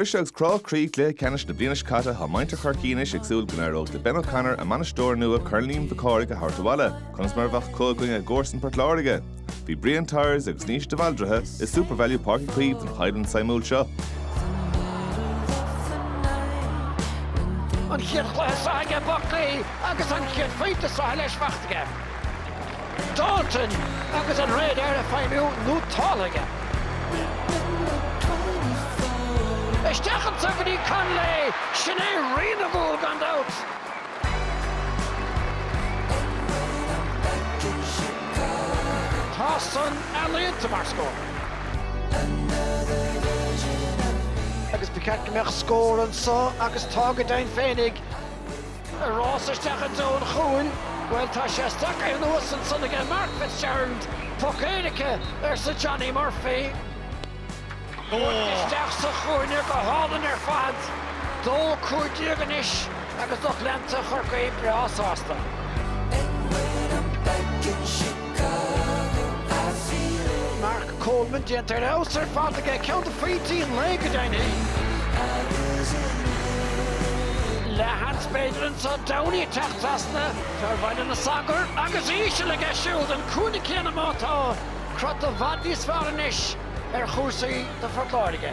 Briseadh agus crá croí i gcluiche ceannais na bliana seo caite tá muintir Chorcaí anois ag súil go n-éireoidh le Ben O'Connor, a mbainisteoir nua, Corn Liam Mhic Cárthaigh a thabhairt abhaile. Conas mar a bheadh acu i gcoinne a gcomharsan Port Láirge? Bhí Brian Tyers agus Naoise de Bhaldraithe i Supervalu Páirc Uí Chaoimh don choimhlint suimiúil seo. An chéad chluiche sraithe aige Buckley agus an chéad phointe sraithe leis faighte aige. Dalton agus an radar ag feidhmiú nótáltha aige. Isteach anso go dtí Connolly! Sin é Rí na gCúl gan dabht! Tá san ealaíonta mar scór. Agus ba cheart go mbeadh scór anso agus tá, go deimhin féinig! Ar rás isteach i dtreo an chúil, bhuel, tá sé stracaithe anuas ansan aige, Mark Fitzgerald, poc éirice, arsa Johnny Murphy. Buailte isteach sa chúinne go hálainn ar fad, 2-15 anois agus lucht leanta Chorcaí breá sásta. Mark Coleman, déanta ar fheabhas ar fad aige, ceann de phointí an lae go deimhin. Leathsheans b'fhéidir anso, Downey ag teacht trasna fear Bhaile na Sagart agus íseal aige siúd, an cúinne céanna má tá crot i bhfad níos fearr anois ar chúrsaí do Phort Láirge.